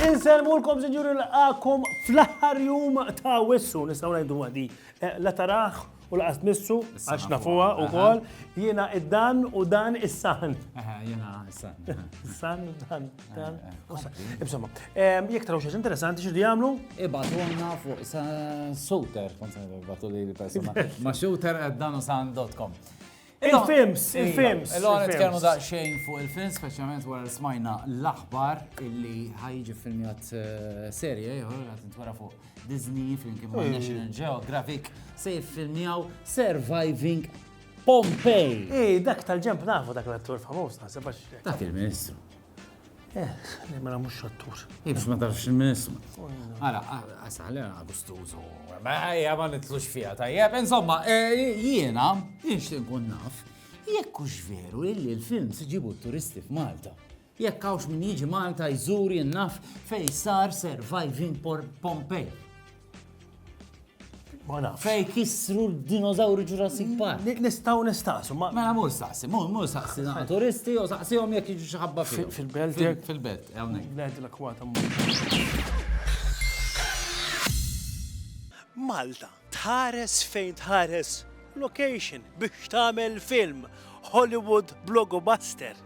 Inselmulkom sinjuri l-għakom fl-aħħar jum ta' wissu, nistaw ngħidu għadi, eh, la taraħ U laqas tmissu, għax nafuha u kol, jiena id-dan u dan is-san. Jiena is-san. Is-san, dan, dan. Insomma, jek taraw xaġ interessanti xirri għamlu? Ibatuna fuq shooter, konsen ibatu li l-persona. Ma shooter dan u san.com. Il-films, il-films. Illum nitkellmu daqsxejn fuq il-films, speċjalment wara li smajna l-aħbar illi ħajġi filmjat eh, serje ieħor qed nitwara fuq Disney flimkien ma' National Geographic se jiffilmjaw Surviving Pompeii. Ej, dak tal-ġemp nafu dak l-attur famuż naħseb għax. Dak il-Ministru. Eh, li mela mhux xattur. Ibs ma tafx il-ministru. Ara, għasal, għana gustużu. Ejja, ma nitlux fija, tajjeb. Insomma, eh, jiena, jinx tinkun naf, jekk hux veru illi l-film siġibu turisti f'Malta. Jekk hawnx min jiġi Malta jżur jinnaf fej sar Surviving Pompeii. Ma nafx. Fej kisru d-dinozawri Jurassic mm, Park. Nistaw nistaqsu, ma. Mela mur saqsi, mur mur saqsi na turisti u saqsihom jekk jiġu xi ħabba fil. Fil-belt jekk. Fil-belt, hawnhekk. Belt l-akwata Malta, tħares fejn tħares location biex tagħmel film Hollywood Blogobuster.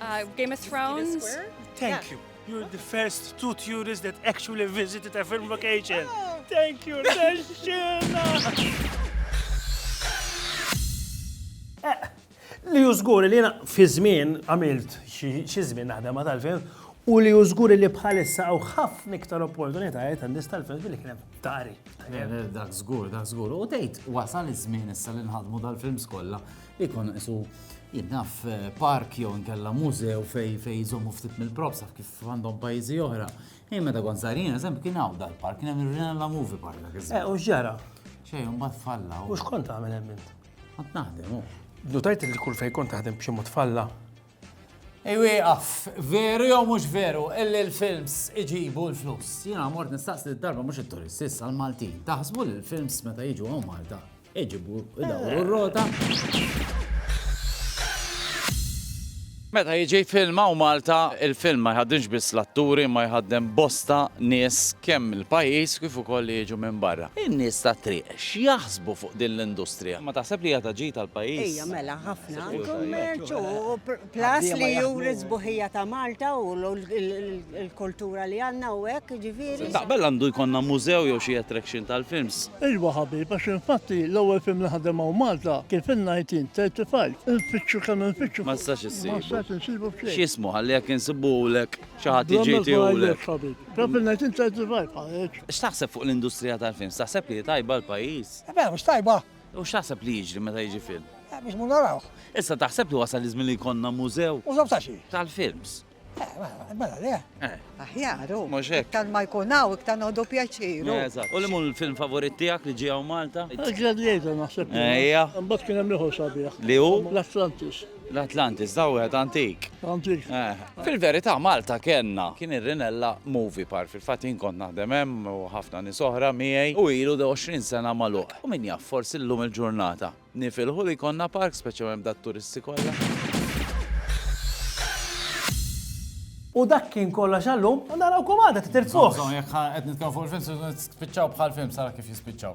Uh, Game of Thrones. Thank you. You're the first two tourists that actually visited a film location. Oh. Thank you, Li jużgur li jena fi żmien għamilt xi żmien naħdem ma tal-film u li jużgur li bħalissa għaw ħafna iktar opportunitajiet għandis tal-film fil kien hemm tari. Dak żgur, dak żgur. U tgħid wasal iż-żmien issa li nħadmu dal-films kollha Ikun isu jinnaf park jew nkella mużew fej fej jżommu ftit mill-props kif għandhom pajjiżi oħra. Ej meta kont sarin, eżempju kien hawn dal-park, kien hemm il-Rinella Movie Park dak iż Eh, u ġara. Xejn, mbagħad falla. U x'kont tagħmel hemm int? Kont naħdem, u. Notajt li kull fejn kont taħdem b'xi mod falla. Ej wieqaf, veru jew mhux veru, illi l-films iġibu l-flus. Jiena mort nistaqsi d-darba mhux it-turisti, issa l-Maltin. Taħsbu li l-films meta jiġu hawn Malta, Iġibu, idawru r-rota. Meta jiġi filma u Malta, il-film ma jħaddimx biss l-atturi ma jħaddem bosta nies kemm il-pajjiż kif ukoll li jiġu minn barra. In-nies tat-triq x'jaħsbu fuq din l-industrija? Ma taħseb li hija ta' ġid għall-pajjiż? Ejja mela ħafna. Kummerċ u Plus li juri sbuħija ta' Malta u l-kultura li għandna u hekk, ġifieri. Taqbel għandu jkollna mużew jew xi attraction tal-films? Iwa ħabib, għax infatti l-ewwel film li ħadem hawn Malta kien fin-1935. Infittxu kemm infittxu. Ma nistax insibu. Ma nistax insibu b'xejn. X'jismu ħalli jekk insibulek xi ħadd jiġi jtiehulek. Bla ma żbaljek ħabib. Kien fin-1935 ħareġ. X'taħseb fuq l-industrija tal-films? Taħseb li hi tajba għall-pajjiż? Mela mhux tajba. U x'taħseb li jiġri meta jiġi film? Eh, biex mu narawh. Issa taħseb li wasal iż-żmien li jkollna mużew? Mużew ta' xi? Tal-films. Eh, mela, mela le. Eh. Aħjar, u. Mhux hekk. Iktar ma jkun hawn, iktar nodu pjaċiru. Eżatt. U li mu l-film favorit tiegħek li ġie hawn Malta? Gladiator naħseb. Ejja. Mbagħad kien hemm ieħor sabiħ. Li hu? L-Atlantis. L-Atlantis da wieħed antik. Antik. Eh. Fil-verità Malta kellna kien ir-Rinella Movie Park. Fil-fatt jien kont naħdem hemm u ħafna nies oħra miegħi u ilu 20 sena magħluq. U min jaf forsi llum il-ġurnata nifilħu li jkollna park speċjalment b'dat-turisti kollha. U dak kien kollox għallum, u narawkom għada titirzuħ. Jekk qed nitkellmu fuq il-films, spiċċaw bħal film sara kif jispiċċaw.